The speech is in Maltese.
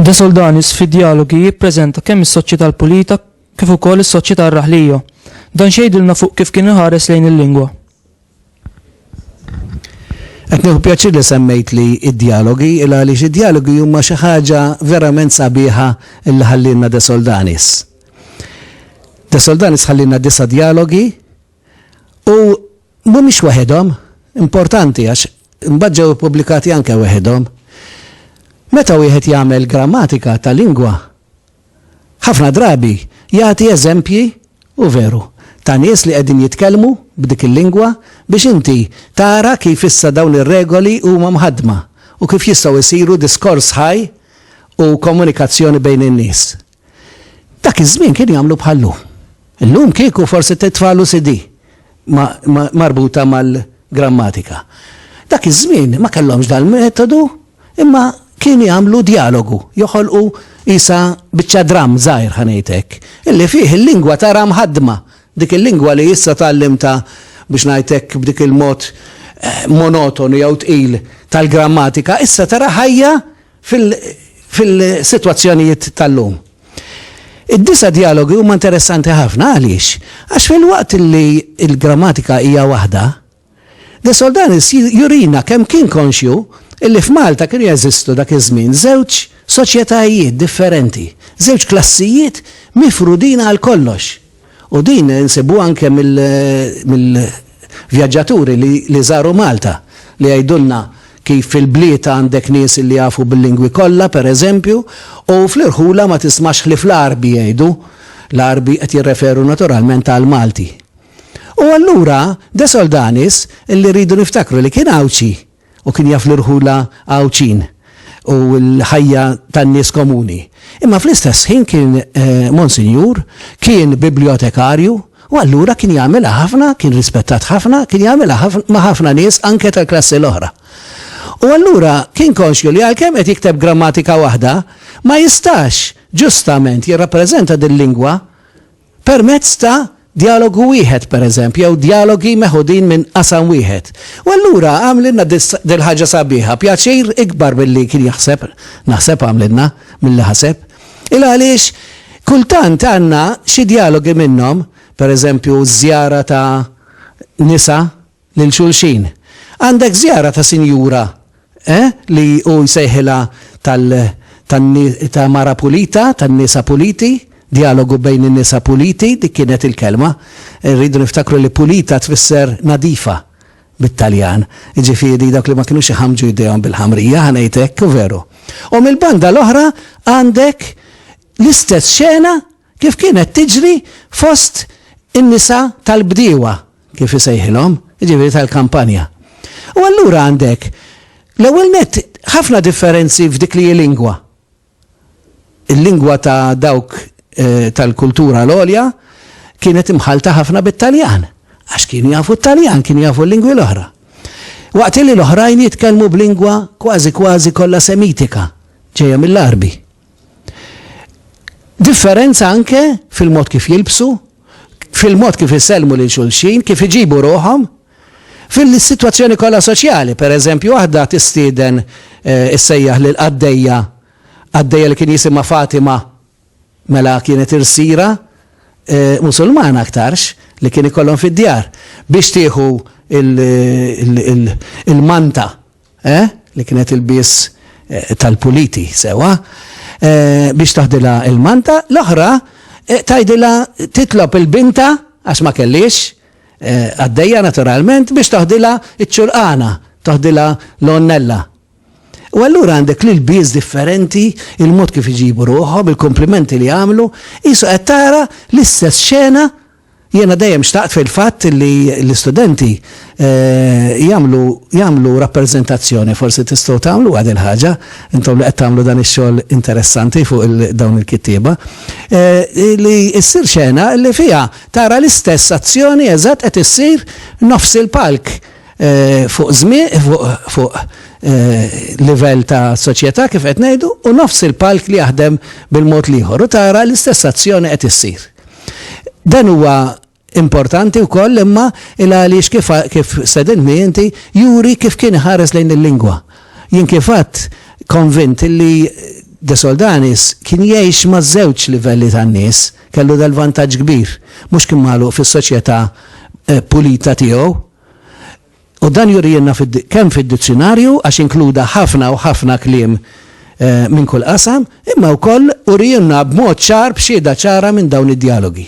De Soldanis fi dialogi jippreżenta kemm is-soċjetà l-pulita kif ukoll is-soċjetà r-raħlija. Dan xejdilna fuq kif kien iħares lejn il-lingwa. Qed nieħu pjaċir li semmejt li d-djalogi, il għaliex id-djalogi huma xi ħaġa verament sabiħa li ħallielna De Soldanis. De Soldanis ħallielna disa' djalogi u mhumiex waħedhom, importanti għax imbagħad ġew ippubblikati anke waħedhom. Meta wieħed jagħmel grammatika ta' lingwa, ħafna drabi jagħti eżempji, u veru, ta' nies li qegħdin jitkellmu b'dik il-lingwa biex inti tara kif issa dawn ir-regoli huma mħaddma u kif jistgħu jsiru diskors ħaj u komunikazzjoni bejn in-nies. Dak iż-żmien kienu jagħmlu bħal-lum. Illum kieku forsi titfagħlu CD marbuta mal-grammatika. Dak iż-żmien ma kellhomx dal-metodu imma kienu jagħmlu djalogu, joħolqu qisha biċċa dramm żgħir ħa ngħid hekk, illi fih il-lingwa tara mħaddma, dik il-lingwa li issa tgħallimtha biex ngħid hekk b'dik il-mod monotonu jew tqil tal-grammatika issa tara ħajja fil-sitwazzjonijiet tal-lum. Id-disa' djalogi huma interessanti ħafna għaliex? Għax filwaqt li l-grammatika hija waħda, De Soldanis jurina kemm kien konxju li f'Malta kienu jeżistu dak iż-żmien żewġ soċjetajiet differenti, żewġ klassijiet mifrudin għal kollox. U din insibuha anke mill-vjaġġaturi li żaru Malta, li jgħidulna kif fil-bliet għandek nies li jafu bil-lingwi kollha, pereżempju, u fl-irħula ma tismax ħlief l-Għarbi jgħidu, l-Għarbi qed jirreferu naturalment għall-Malti. U allura De Soldanis, li rridu niftakru li kien Għawdxi, u kien jaf l-irħula Għawdxin u l-ħajja tan-nies komuni. Imma fl-istess ħin kien Monsinjur, kien bibljotekarju u allura kien jagħmilha ħafna, kien rispettat ħafna, kien jagħmilha ma' ħafna nies anke tal-klassi l-oħra. U allura kien konxju li għalkemm qed jikteb grammatika waħda, ma jistax ġustament jirrappreżenta dil-lingwa permezz ta' djalogu wieħed, pereżempju, jew djalogi meħudin minn qasam wieħed. U allura għamlilna dil-ħaġa sabiħa, pjaċir ikbar milli kien jaħseb, naħseb għamlilna, milli ħaseb. Il għaliex kultant għandna xi djalogi minnhom, pereżempju ż-żjara ta' nisa, lil xulxin. Għandek żjara ta' sinjura, eh, li hu jsejħilha tal, tan-ni, ta' mara pulita, tan-nisa puliti, djalogu bejn in-nisa puliti, dik kienet il-kelma. Irridu niftakru li pulita tfisser nadifa bit-Taljan, jiġifieri dawk li ma kinux iħammġu jdejhom bil-ħamrija, ħa ngħid hekk, u veru. U mill-banda l-oħra għandek l-istess xena, kif kienet tiġri fost in-nisa tal-bdiewa, kif isejħilhom, jiġifieri tal-kampanja. U allura għandek, l-ewwel nett, ħafna differenzi f'dik li hi lingwa. Il-lingwa ta' dawk tal-kultura l-għolja kienet imħallta ħafna bit-Taljan, għax kienu jafu t-Taljan, kienu jafu l-lingwi l-oħra. Waqt li l-oħrajn jitkellmu b'lingwa kważi kważi kollha Semitika, ġejja mill-Għarbi. Differenza anke fil-mod kif jilbsu, fil-mod kif isellmu lil xulxin, kif iġibu ruħhom, fil-sitwazzjoni kollha soċjali. Pereżempju, waħda tistieden issejjaħ lil qaddejja, qaddejja li kien jisimha Fatima, mela kienet irsiera Musulmana aktarx li kien ikollhom fid-djar, biex tieħu l-manta. Eh? Li kienet il-bies eh, tal-puliti, sewa? Eh, biex taħdilha il-manta, l-oħra eh, tajdilha titlob il-binta, għax ma kellix, eh, għaddejja naturalment, biex taħdilha iċ-ċurqana, taħdilha l-onnella. U allura għandek li l-biz differenti, il-mod kif iġibu ruħom, il-komplimenti li għamlu, jisu għattara l-istess xena Jiena dejjem xtaqt fil-fatt li l-istudenti jagħmlu jagħmlu rappreżentazzjoni, forsi tistgħu tagħmluha dil-ħaġa, intom li qed tagħmlu dan ix-xogħol interessanti fuq il dawn il-kittieba, li ssir xena li fiha tara l-istess azzjoni eżatt qed issir nofs il-palk fuq żmie fuq fuq livell ta' soċjetà kif qed ngħidu u nofs il-palk li jaħdem bil-mod l-ieħor u tara l-istess azzjoni qed issir. Dan huwa importanti wkoll imma il għaliex kif kif sedintni inti juri kif kien iħares lejn il-lingwa. Jien kif għadd konvint li De Soldanis kien jgħix ma' żewġ livelli tan-nies, kellu dal-vantaġġ kbir, mhux kien magħluq fis-soċjetà eh, pulita tiegħu. U dan jurielna kemm fid-dizzjunarju għax inkluda ħafna u ħafna kliem minn kull qasam, imma wkoll urielna b'mod ċar b'xhieda ċara minn dawn id-djalogi.